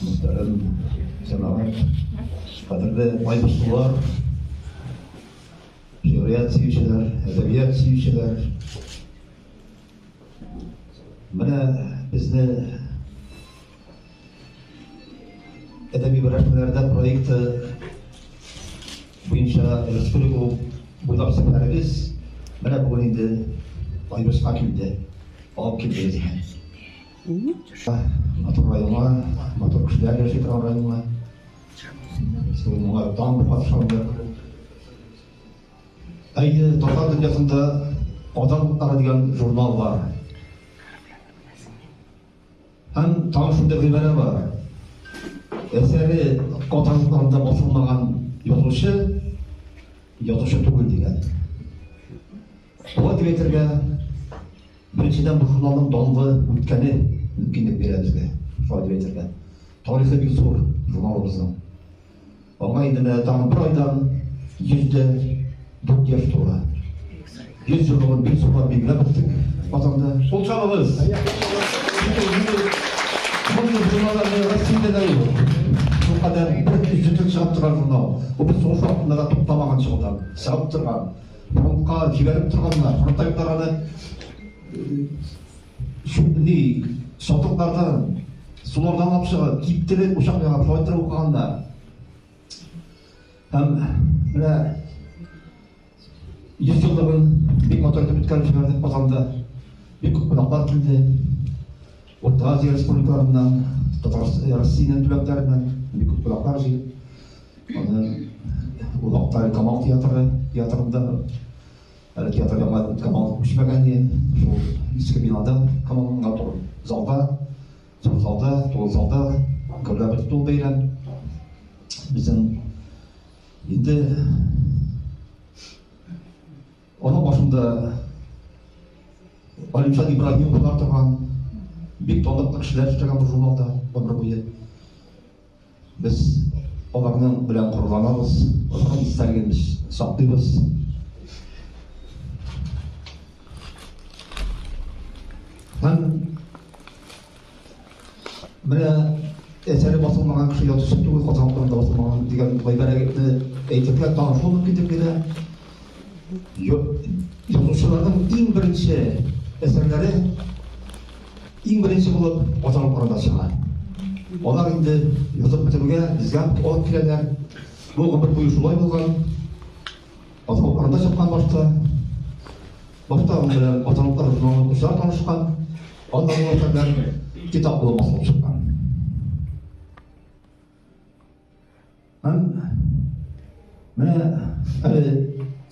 Мөхтәрәм җәмәгать, кадерле байбашлылар, шигърият сөючеләр, әдәбият сөючеләр. Менә безне әдәби берләшмәләрдә проекты буенча республика буйлап сәфәребез менә бүген инде Айбышка килде, алып килде безне. Матур районга, матур кешеләр яши торган районга. Шул моңа дан бу катышында. Әйе, татар дөньясында Адам утлары дигән журнал бар. Һәм тагын шундый гыйбарә бар. Әсәре Адам утларында басылмаган язучы, язучы түгел дигән. Шулай дип әйтергә Беренчедән, бу журналның данлы үткәне мөмкинлек бирә безгә шулай дип әйтергә. Тарихы бик зур журналыбызның. Аңа инде менә тагын бер айдан 104 яшь тула. 100 еллыгын бик зурлап билгеләп үттек Казанда. Кул чабыгыз! Мондый журналларны Россиядә дә юк. Шул кадәр бер төзетеп чыгып торган журнал. Бу без сугыш вакытында да туктамаган чыгудан, чыгып торган. фронтка җибәреп торганнар, фронтта юкларны шундый сатыклардан, сулардан алып чыгып, киптереп, учак яңа фронтта укыганнар. Һәм менә йөз еллыгын бик матур итеп үткәреп җибәрдек Казанда. Бик күп кунаклар килде. Урта Азия республикаларыннан, Татарстан, Россиянең төбәкләреннән бик күп кунаклар җыелып Аны ул Актаи Камал театры театрында әле театр яңа Камал күчмәгән иде. Шул иске бинада Камалга тур залда, зур залда, тулы залда гөрләп тул бәйрәм. Безнең инде аның башында Алимжан Ибраһимовлар торган бик талантлы кешеләр эшләгән бу журналда гомер буе. Без аларның белән горурланабыз, аларның истәлеген без саклыйбыз. Һәм менә әсәре басылмаган кеше язучы түгел, Казан турында басылмаган дигән гыйбарәне әйтергә тагын шул мөмкинлек бирә. Язучыларның иң беренче әсәрләре иң беренче булып Казан арада чыга. Алар инде язып бетерүгә безгә алып киләләр. Бу гомер буе шулай булган. Казан арада чыккан башта. Башта аның белән Казан арызының укучылар танышкан. Аннан ул әсәрләр китап булып басылып чыккан. Һәм менә әле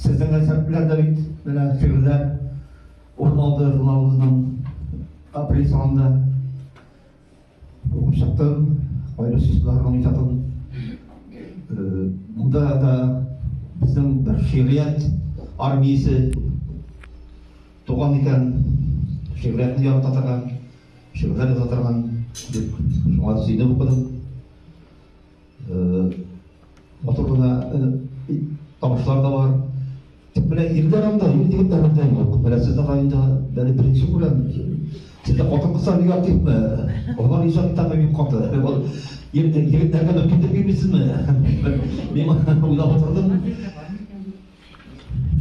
сезнең рецептлар да бит менә фигыләр урын алды журналыбызның апрель санында укып чыктым кайбер сүзләрнең иҗатын э, монда да безнең бер шигърият армиясе туган икән шигъриятны ярата торган шигырьләр яза торган дип шуңа сөенеп укыдым Матур гына тавышлар да бар. Тик менә ирләр анда, ир егетләр анда юк. Менә сез аңа инде бәле беренче күрәм. Сездә хатын-кызлар бик активмы? Алар иҗатта бик каты. Ул егетләргә дә китеп бирмисезме? Мин уйлап утырдым.